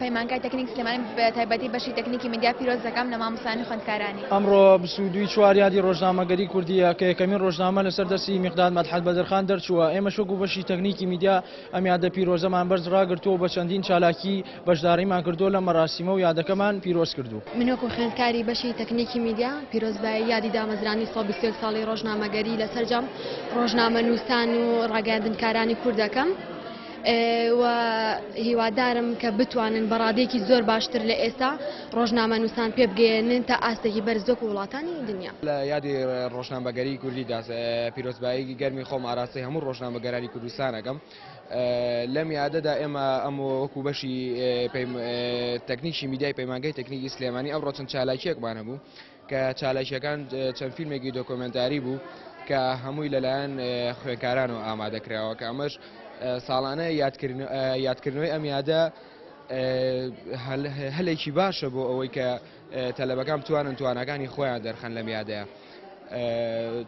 پەیمانگای تەکنیک سلێمانی بە تایبەتی بەشی تەکنیکی میدیا پیرۆز دەکەم لە مامۆستایانی خوێندکارانی. ئەمڕۆ بیست و دوو ی چوار یادی ڕۆژنامەگەری کوردییە کە یەکەمین ڕۆژنامە لەسەر دەستی میقداد مەدحەت بەدرخان دەرچووە، ئێمەش وەکو بەشی تەکنیکی میدیا ئەم یادە پیرۆزەمان بەرز ڕاگرتووە و بە چەندین چالاکی بەشداریمان کردووە لەم مەراسیمە و یادەکەمان پیرۆز کردوو. من وەکو خوێندکاری بەشی تەکنیکی میدیا پیرۆزبایی یادی دامەزرانی سەد و بیست و یەک ساڵی ڕۆژنامەگەری لە سەرجەم ڕۆژنامەنووسان و ڕاگەیاندنکارانی کورد دەکەم. و هیوادارم کە بتوانن بە ڕادێکی زۆر باشتر لە ئێستا ڕۆژنامە نووسان پێ بگەێنن تا ئاستێکی بەرزۆک و وڵاتانی دنیا لە یادی ڕۆژنامەگەری کوردی دا پیرۆزبایی گەرمی خۆم ئاراسی هەموو ڕۆژنامەگەرانی کوردستانەکەم لەم یادەدا ئێمە ئەم وەکو بەشی تەکنیکی میدای پەیمانگەی تەکنیکی سلێمانی ئەو ڕۆچن چالاکیەکمان هەبوو کە چالاکیەکان چەند فیلمێکی دۆکۆمێنتاری بوو کە هەمووی لەلایەن خوێنکارانەوە ئامادەکراوە کە ئەمەش ساڵانە یادکردنەوەی ئەم یادە هەلێکی باشە بۆ ئەوەی کە تەلەبەکان بتوانن توانەکانی خۆیان دەرخەن لەم یادەیە.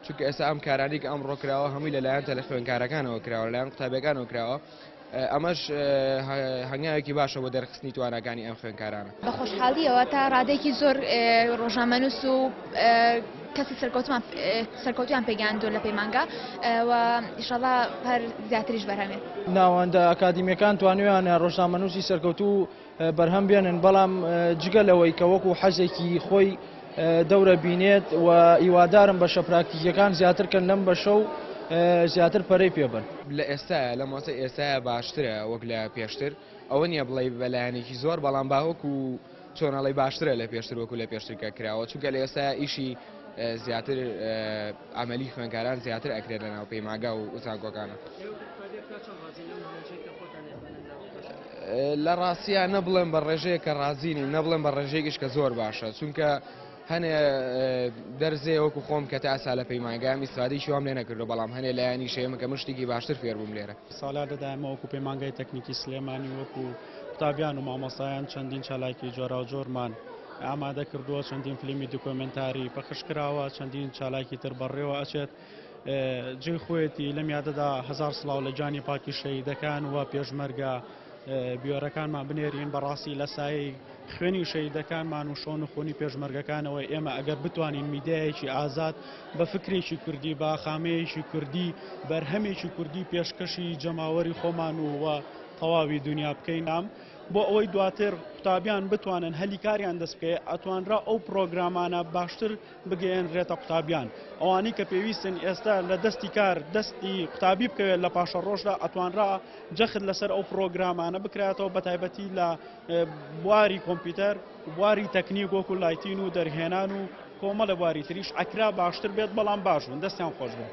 چونکە ئێستا ئەم کارانێک ئەم ڕۆکراوە هەمووی لەلایەن تەلە خوێنکارەکانەوە کراوە لەلایەن قوتابەکانەوە کراوە ئەمەش هەنگاوێکی باشە بۆ دەرخستنی تواناکانی ئەم خوێنکارانە بە خۆشحاڵیەوە تا ڕادێکی زۆر ڕۆژنامەنووس و کەسی سەرکەوتمان سەرکەوتیان پێگەاندۆ لە پەیمانگا ئیشەڵا هەر زیاتریش بەرهەمێ ناوەندە ئەکادیمیەکان توانیویانە ڕۆژنامەنووسی سەرکەوتو بەرهەم بێنن، بەڵام جگە لەوەی کە وەکو حەزێکی خۆی دەورە بینێت و هیوادارم بەشە پراکتیکیەکان زیاتر کەن لەم بەشە و زیاتر پەرەی پێ بەن. لە ئێستایا، لە مۆسە ئێستایا باشترە وەک لە پێشتر، ئەوە نیە بڵێی بە لایەنێکی زۆر بەڵام با وەکو چۆن ئەڵێی باشترە لە پێشتر وەکو لە پێشتر کە کراوە چونکە لە ئێستایا ئیشی زیاتر عملی خوێنکاران زیاتر ئەکرێت لە ناو پەیمانگا و زانکۆکانە. لە ڕاستیا نە بڵێم بە ڕێژەیە کە ڕازینی نە بڵێم بە ڕێژێکیش کە زۆر باشە چونکە هەنێ دەرزێ وەکو خۆم کە تا ئەسا لە پەیمانگام ئیسفادی شوام لێ نەکردو بەڵام هەنێ لایانی شێمە کە مشتێکی باشتر فێربووم لێرە سالا دەدایمە وەکو پەیمانگای تەکنیکی سلێمانی وەکو قوتابیان و مامەسایان چەندین چالاکی جۆرا و جۆرمان ئامادە کردووە چەندین فلیمی دکۆمنتاری پەخش کراوە چەندین چالاکی تر بەڕێوە ئەچێت جێی خۆیەتی لەم یادەدا هەزار سڵاو لە گیانی پاکی شەهیدەکان و پێشمەرگە بیۆرەکانمان بنێرین بەڕاستی لە سایی خوێنی شەیدەکانمان و شۆن و خۆنی پێشمەرگەکانەوە ئێمە ئەگەر بتوانین میدیایەکی ئازاد بە فکرێکی کوردی با خامەیەکی کوردی بەرهەمێکی کوردی پێشکەشی جەماوەری خۆمان و وە تەواوی دنیا بکەینام بۆ ئەوەی دواتر قوتابیان بتوانن هەلی کاریان دەست بکەێت ئەتوانرا ئەو پرۆگرامانە باشتر بگەیەنرێتە قوتابیان ئەوانەی کە پێویستن ئێستا لە دەستی کار دەستی قوتابی بکەوێت لە پاشە ڕۆژدا ئەتوانرا جەخت لەسەر ئەو پرۆگرامانە بکراتەوە بە تایبەتی لە بواری کۆمپیوتەر بواری تەکنیک وەکو لایتین و دەرهێنان و کۆمەڵە بواری تریش ئەکرا باشتر بێت بەڵام باشبوون دەستیان خۆش بێت.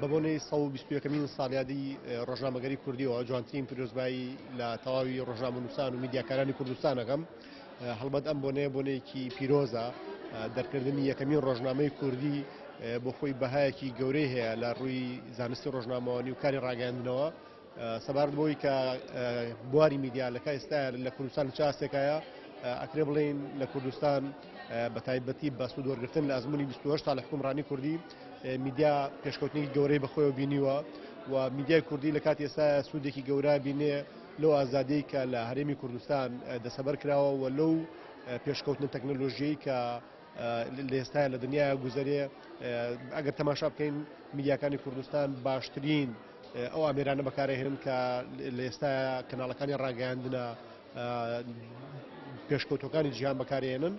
بە بۆنەی 121 مین ساڵیادی ڕۆژنامەگەری کوردیەوە جوانترین پیرۆزبایی لە تەواوی ڕۆژنامە نووسان و میدیاکارانی کوردستانەکەم هەڵبەت ئەم بۆنەیە بۆنەیەکی پیرۆزە دەرکردنی یەکەمین ڕۆژنامەی کوردی بۆ خۆی بەهایەکی گەورەی هەیە لە ڕووی زانستی ڕۆژنامەوانی و کاری ڕاگەاندنەوە سەبارەت بەوەی کە بواری میدیا لە کای ئێستا لە کوردستان چ ئاستێکایە ئەکرێ بڵێین لە کوردستان بە تایبەتی بە سوود وەرگرتن لە ئەزمموی 28 سال لە حکومڕانی کوردی میدیا پێشکەوتنی گەورەی بەخۆیەوە بینیوە و میدیای کوردی لە کاتی ئێستا سوودێکی گەورە بینێ لەو ئازادەی کە لە هەرێمی کوردستان دەسەبەر کراوە و لەو پێشکەوتنە تەکنەلۆژیەی کە لەئێستایا لەدنیایا گوزەرێ ئەگەر تەماشا بکەین میدیاکانی کوردستان باشترین ئەو ئامێرانە بەکارهێنن کە لە ئێستا کەناڵەکانی ڕاگەاندنە پێشکەوتەکانی جیان بەکارێنن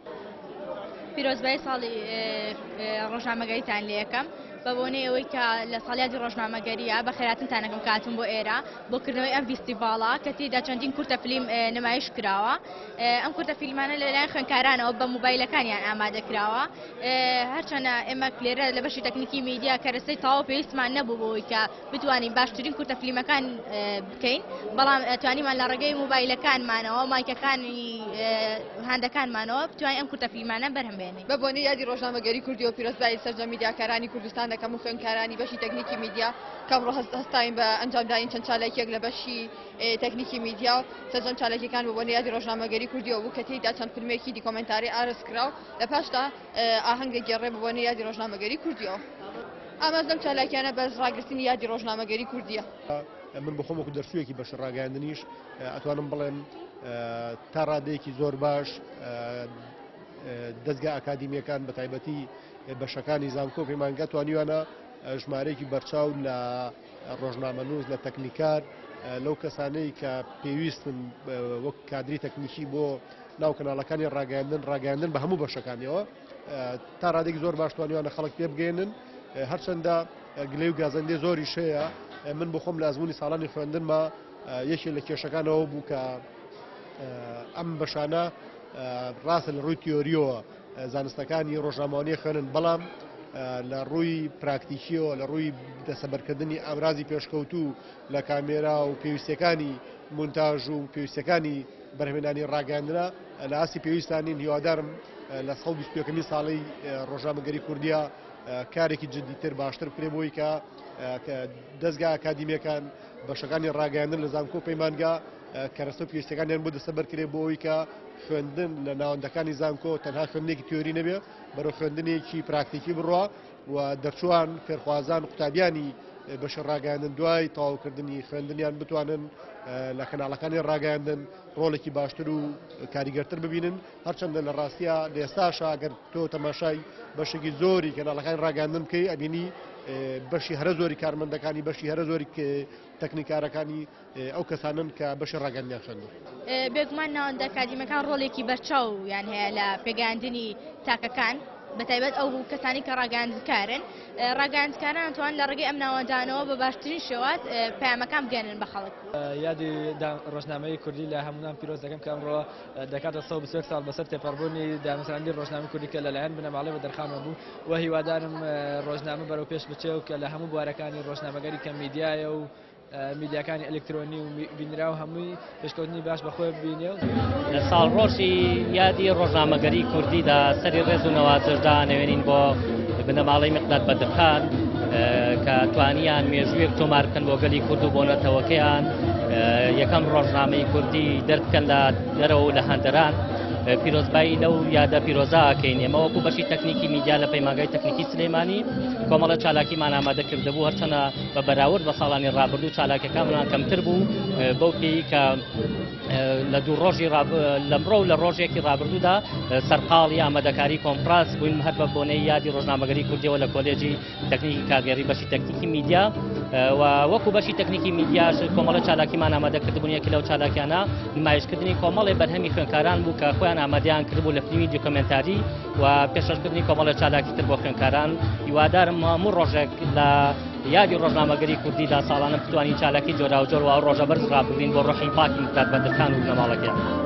پیرۆزبای ساڵی ڕۆژنامەگەریتان لە یەکەم بە بۆنەی ئەوەی کە لە ساڵیادی ڕۆژنامەگەریە بە خێراتنتانەکەم کاتون بۆ ئێرە بۆکردنەوەی ئەم ویستی باڵا کە تێدا چەندین کورتە فلیم نمایش کراوە ئەم کورتە فیلمانە لەلایەن خوێنکارانەوە بە موبایلەکانیان ئامادە کراوە هەرچەنە ئێمە لێرە لە بەشی تەکنیکی میدیا کەرەسەی تاو پێویستمان نەبوو بۆی کە بتوانین باشترین کورتە فیلمەکان بکەین بەڵام توانیمان لە ڕێگەی موبایلەکانمانەوە مایکەکانی هاندەکانمانەوە بتوانین ئەم کورتە فیلمانە بەرهەمێنین بە بۆنی یادی ڕۆژنامەگەری کوردی و پیرۆزبایی سەرجە میدیاکارانی کوردستان دەکەم و خوێنکارانی بەشی تەکنیکی میدیا کەم ڕۆهست هەستاین بە ئەنجامداین چەند چالاکیەک لە بەشی تەکنیکی میدیا و سەرجەم چالاکیەکان بۆ بۆنیادی ڕۆژنامەگەری کوردی و بوو کە تێیدا چەند فیلمێکی دیکۆمنتاری ئارس کرا و لە پاشدا ئاهەنگە گێڕێ بۆ بۆنی یادی ڕۆژنامەگەری کوردیەوە ئاماز لەم چالاکیانە بەس ڕاگررتنی یادی ڕۆژنامەگەری کوردیە. من بە خۆمەکو دەرچوویەکی بەش ڕاگەاندنیش ئەتوانم بڵێم تا ڕادەیەکی زۆر باش دەستگا ئاکادمیەکان بە تایبەتی بەشەکانی زانکۆ پەیمانگە توانیوانە ژمارەیەکی بەرچاو لە ڕۆژنامەنووس، لە تەکنیکار، لەو کەسانەی کە پێویستن وەک کادری تەکنیکی بۆ ناو کەناڵەکانی ڕاگەیاندن ڕاگەیاندن بە هەموو بەشەکانیەوە تا ڕادێک زۆر باش توانیوانە خەڵک پێ بگەێنن هەرچەندە گلەی و گازەندێ زۆری شەیە من بخۆم لە ئەزمموی ساڵانی خوێندنمە یەکێ لە کێشەکانەوە بوو کە ئەم بەشانە ڕاستە لە ڕووی تیۆریەوە زانستەکانی ڕۆژنامەوانیە خوێنن بەڵام لە ڕووی پراکتیکیەوە لە ڕووی دەسەبەرکردنی ئامرازی پێشکەوتوو لە کامێرا و پێویستەکانی مونتاژ و پێویستەکانی بەرهێنانی ڕاگەاندرا لە ئاسی پێویستانین هیوادارم لە سە بیستەکەمی ساڵی ڕۆژامەگەری کوردیا کارێکی جددیتر باشتر بکرێ بۆی کە دەستگا ئەکادیمیەکان بەشەکانی ڕاگەاندن لە زانکۆ پەیمانگا کەرەستە و پێویستیەکانیان بۆ دەستەبەر کرێ بۆ ئەوی کە خوێندن لە ناوەندەکانی زانکۆ تەنها خوێندێکی تیۆری نەبێ بەرە خوێندنێکی پراکتیکی بڕە و دەرچوان فێرخوازان قوتابیانی بەش ڕاگەاندن دوای تاوکردنی خوێندنیان بتوانن لە کەناڵەکانی ڕاگەاندن ڕۆڵێکی باشتر و کاریگەرتر ببینن هەرچەندە لە ڕاستە لە ئێستاشا گەر تۆ تەماشای بەشێکی زۆری کەناڵەکانی ڕاگەاندن بکەی ئەبینی بەشی هەرە زۆری کارمەندەکانی بەشی هەرە زۆری تەکنیکارەکانی ئەو کەسانن کە بەشی ڕاگەندنیان خوێندووە. بێگومان ناوەندە ئەکادیمەکان ڕۆلێکی بەرچاو یان هەیە لە پێگەیاندنی تاکەکان بەتایبەت ئەو کەسانی کە ڕاگەاندکارن ڕاگەاندکاران توان لە ڕگەی ئەم ناوەندانەوە بە باشترین شێوات پامەکان بگەێنن بە خەڵک یادی ڕۆژنامەی کوردی لە هەموان پیرۆز دەکەم کە ئەمڕۆ دەکاتە سە بسێک ساڵ بەسەر تێپەڕبوونی دامساندی ڕۆژنامە کوردی کە لەلایەن بنەماڵی بە دەرخانەوە بوو و هیوادارم ڕۆژنامە بەرەو پێش بچێ و کە لە هەموو بوارەکانی ڕۆژنامەگەری کە میدیایە و میدیاکانی ئەلکترۆنی و بینراو هەمووی پێشکەوتنی باش بەخۆی بینێ و لە ساڵ ڕۆژی یادی ڕۆژنامەگەری کوردیدا سەری ڕێز و نەوازشدا نەوێنین بۆ بنەماڵی مقداد بەدرخان کە توانیان مێژوویەک تۆمار بکەن بۆ گەلی کورد و بۆ نەتەوەکەیان یەکەم ڕۆژنامەی کوردی دەربکەن لە دەرەوە و لە هەندەران پیرۆزبایی لەو یادە پیرۆزاکەین ئێمە وەکو بەشی تەکنیکی میدیا لە پەیماگای تەکنیکی سلەیمانی کۆمەڵە چالاکیمان ئامادە کردبوو هەرچەنە بە بەراورد بە ساڵانی ڕابردوو چالاکەکانمان کەمتر بوو بەو پێی کە لە دوو ڕۆژی لەمڕۆ لە ڕۆژێکی ڕابردوودا سەرقاڵی ئامادەکاری کۆمپراس بووین هەر بە بۆنەی یادی ڕۆژنامەگەری کوردیەوە لە کۆلێجی تەکنیکی کاگەری بەشی تەکنیکی میدیا وەکو بەشی تەکنیکی میدیاش کۆمەڵە چالاکیمان ئامادە کردبوون یەکی لەو چالاکیانە نمایشکردنی کۆمەڵی بەرهەمی خوێنکاران بوو کە خۆیان ئامادەیان کردبوو لە فیلمی دیکۆمنتاری و پێشکەشکردنی کۆمەڵە چالاکی تر بۆ خوێنکاران هیوادارم هەموو ڕۆژێک لە یادی ڕۆژنامەگەری کوردیدا ساڵانە بتوانین چالاکی جۆراوجۆر و ڕۆژە بەرز ڕابگرین بۆ ڕۆحی پاکی دەکات بەدەکان و نەماڵەکەیان.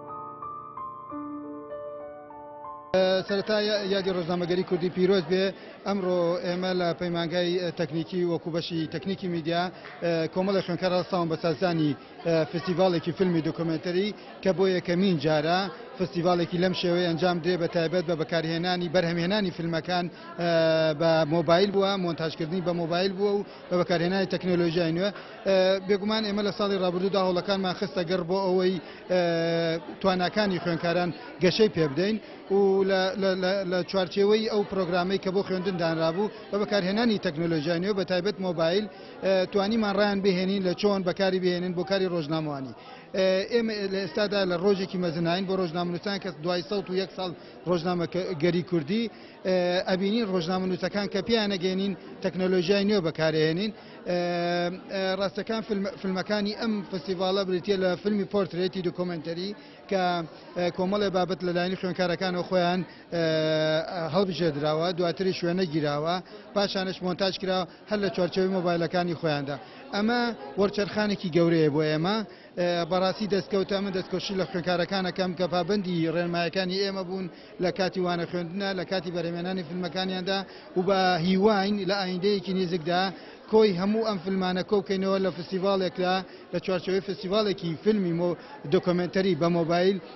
سەرەتا یادی ڕۆژنامەگەری کوردی پیرۆز بێ ئەمڕۆ ئێمە لە پەیمانگای تەکنیکی وەکو بەشی تەکنیکی میدیا کۆمەڵی خوێنکار ڕاستاون بە سازدانی فستیڤالێکی فیلمی دۆکۆمنتەری کە بۆ یەکەمین جارە فستیڤالێکی لەم شێوەی ئەنجام درێ بە تایبەت بە بەکارهێنانی بەرهەمهێنانی فیلمەکان بە مۆبایل بووە مۆنتاجکردنی بە مۆبایل بووە و بە بەکارهێنانی تەکنەلۆژیای نوێ بێگومان ئێمە لە ساڵی ڕابردوودا هەوڵەکانمان خستە گەڕ بۆ ئەوەی تواناکانی خوێنکاران گەشەی پێ بدەین و لە چوارچێوەی ئەو پرۆگرامەی کە بۆ خوێندن دانرابوو بە بەکارهێنانی تەکنۆلۆژیای نوێ بە تایبەت مۆبایل توانیمان ڕیان بهێنین لە چۆن بەکاری بهێنن بۆ کاری ڕۆژنامەوانی ئێمە لە ئێستادا لە ڕۆژێکی مەزناین بۆ ڕۆژنامەنووسان کەس دوای سە و یەک ساڵ ڕۆژنامە گەری کوردی ئەبینین ڕۆژنامە نووسەکان کە پێیان نەگەێنین تەکنۆلۆژیای نوێ بەکارێنین ڕاستەکان فیلمەکانی ئەم فستیڤالە بریتە لە فیلمی پۆرترێتی دکۆمنتەری کە کۆمەڵێ بابەت لەلایانی خوێنکارەکانەوە خۆیان هەڵبژێدراوە دواتری شوێنە گیراوە پاشانش مۆنتاج کرا هەر لە چوارچەوەی مۆبایلەکانی خۆیاندا ئەمە وەرچەرخانێکی گەورەیە بۆ ئێمە بەڕاستی دەستکەوتە، من دەستکۆشی لە خوێنکارەکان ئەکەم کە پابەندی رێنمایەکانی ئێمە بوون لە کاتی وانە خوێندنا لە کاتی بەرهەمێنانی فلمەکانیاندا و بە هیواین لە ئایندەیەکی نیزکدا کۆی هەموو ئەم فلمانە کۆ بکەینەوە لە فستیڤاڵێکدا لە چوارچێوەی فستیڤاڵێکی فلمی دۆکۆمێنتەری بە مۆبایل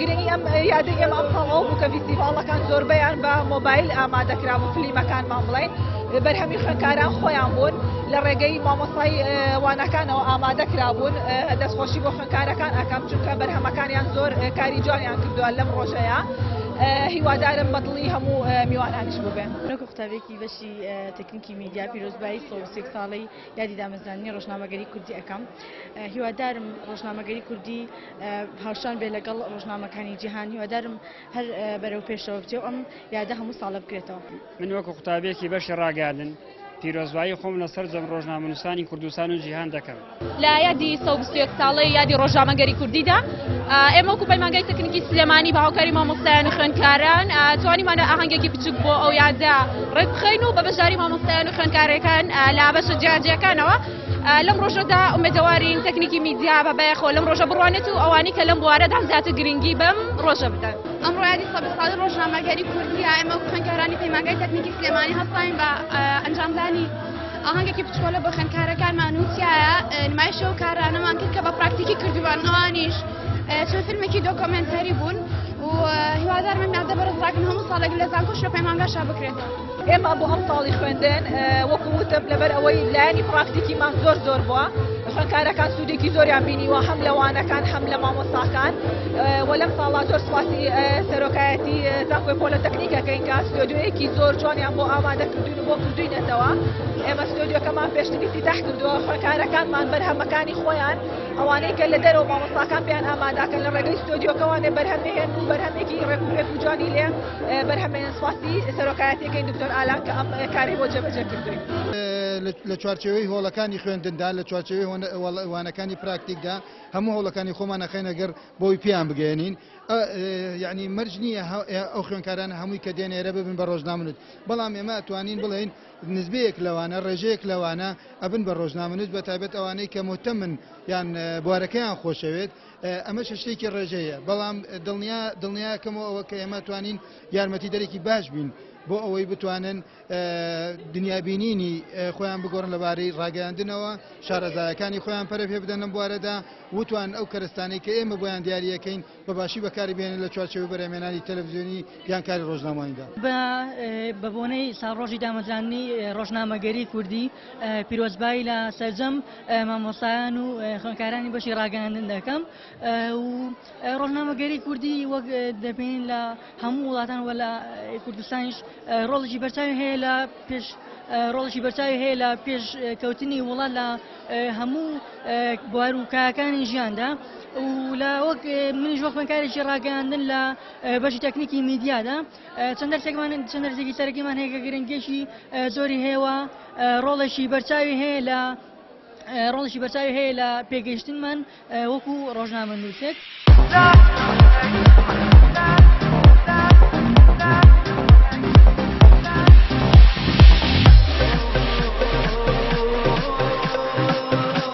گرنگی ئەم یادەی ئێمە ئەم ساڵ ئەو بوو کە فیستیڤاڵەکان زۆربەیان بە مۆبایل ئامادەکرا بۆ فلیمەکانمان بڵێن بەرهەمی خوێندکاران خۆیان بوون لە ڕێگەی مامۆستای وانەکانەوە ئامادە کرابوون دەستخۆشی بۆ خوێندکارەکان ئەکەم چونکە بەرهەمەکانیان زۆر کاری جوانیان کردووە لەم ڕۆژەیە. هیوادارم بەدڵی هەموو میوانانیش ببێن نەکو قوتابێکی بەشی تەکنیکی میدیا پیرۆزبایی سۆسێک ساڵی یادی دامەزانانی ڕۆژنامەگەری کوردی ئەەکەم هیوادارم ڕۆژنامەگەری کوردی هاوشان بێت لەگەڵ ڕۆژنامەکانی جیهان هیوادارم هەر بەرەو پێشەوە بچێ و ئەم یادە هەموو ساڵە بکرێتەوە من وەکو قوتابێکی بەشی ڕاگەیاندن پیرۆزبایی خۆم لە سەرجەم ڕۆژنامەنووسانی کوردستان و جیهان دەکەم لە یادی سە بیستێک ساڵی یادی ڕۆژنامەگەری کوردیدا ئێمە وەکو پەیمانگای تەکنیکی سلێمانی بە هاوکاری مامۆستایان و خوێندکاران توانیمانە ئاهەنگێکی بچوک بۆ ئەو یادە ڕێکخین و بە بەشداری مامۆستایان و خوێندکارەکان لا بەشە جیاجیەکانەوە لەم ڕۆژەدا ئومێدەوارین تەکنیکی میدیا بە بایەخۆ لەم ڕۆژە بڕوانێت و ئەوانی کە لەم بوارەدا زیاتر گرنگی بەم ڕۆژە بدەن ئەم ڕایدی سەد ساڵی ڕۆژنامەگەری کوردی ئەمە خوێنکارانی پەیمانگای تەکنیکی سلێمانی هەستاین بە ئەنجامدانی ئاهنگێکی بچۆلە بە خوێنکارەکانمان وتیایە نمایشە و کارانەمان کرد کە بە پراکتیکی کردوان ئەوانیش چەند فیلمێکی دۆکۆمنتەری بوون و هیوادارمە نادە بەرەزراکن هەموو ساڵێک لە زانکۆش لە پەیمانگاشا بکرێتەوە ئێمە بۆ ئەم ساڵی خوێندن وەکو وتم لەبەر ئەوەی لایەنی پراکتیکیمان زۆر زۆر بووە خوێندکارەکان سوودێکی زۆریان بینیوە هەم لەوانەکان هەم لە مامۆستاکان وە لەم ساڵا زۆر سواسی سەرۆکایەتی زانکۆی پۆلەتەکنیکەکەین کە ستۆدیۆیەکی زۆر جوانیان بۆ ئامادە کردوین و بۆ کردوینەتەوە ئێمە ستۆدیۆکەمان پێشتری تیتاح کردووە خوێندکارەکانمان بەرهەمەکانی خۆیان ئەوانەی کە لە دەرەوە مامۆستاکان پێیان ئامادەکەن لە ڕێگەی ستۆدیۆکەوانێ بەرهەمێن و بەرهەمێکی ڕێک و ڕێک و جوانی لێ بەرهەمێن سواسی سەرۆکایەتەکەی دکتۆر ئالان کە ئەم کاری بۆ جێبەجێ کردوین لە چوارچەوەی هۆڵەکانی خوێندندا لە چوارچەوەی وانەکانی پراکتیکدا هەموو هەوڵەکانی خۆمان نەخێنەگەر بۆی پێیان بگەێنین یعنی مەرج نییە ئەو خوێنکاران هەمووی کە دێنێرە ببن بە ڕۆژنامنوت بەڵام ئێمە توانین بڵێن نزبەیەک لەوانە ڕێژەیەک لەوانە ئەبن بە ڕۆژنامنوت بە تایبەت ئەوانەی کە مهتەمن یان بوارەکەیان خۆشەوێت ئەمەش شتێکی ڕێژەیە، بەڵام دڵنیا دڵنیاکەمەوە ئەوە کە ئێمە توانین یارمەتی دەرێکی باش بین بۆ ئەوەی بتوانن دنیابینینی خۆیان بگۆڕن لەبارەی ڕاگەاندنەوە شارەزایەکانی خۆیان پەرە پێ بدەن لەم بوارەدا وتوان ئەو کەرستانی کە ئێمە بۆیان دیارریەکەین بە باشی بەکاری بێنن لە چوارچەوەی بەرەمێنانی تەلەڤزیۆنی یانکاری ڕۆژنامەوانیدا بە بۆنەی ساڕۆژی دامەزرانی ڕۆژنامەگەری کوردی پیرۆزبایی لە سەرجەم مامۆستایان و خوێندکارانی بەشی ڕاگەیاندن دەکەم و ڕۆژنامەگەری کوردی وەک دەبین لە هەموو وڵاتان وە لە کوردستانیش ڕۆڵی بەرچاوی هەیە لە پێش ڕۆڵی بەرچاوی هەیە لە پێش کەوتنی وڵات لە هەموو بوار و کاکانی ژیاندا و لە وەک منیش وە خوێنکارێکی ڕاگەاندن لە بەشی تەکنیکی میدیادا چەند دەرسێکمان چەند دەرسێکی سەرەکیمان هەیە کە گرنگیەکی زۆری هەیە و ڕۆڵێکی بەرچاوی هەیە لە ڕۆڵێکی بەرچاوی هەیە لە پێگەیشتنمان وەکو ڕۆژنامە نووسێک.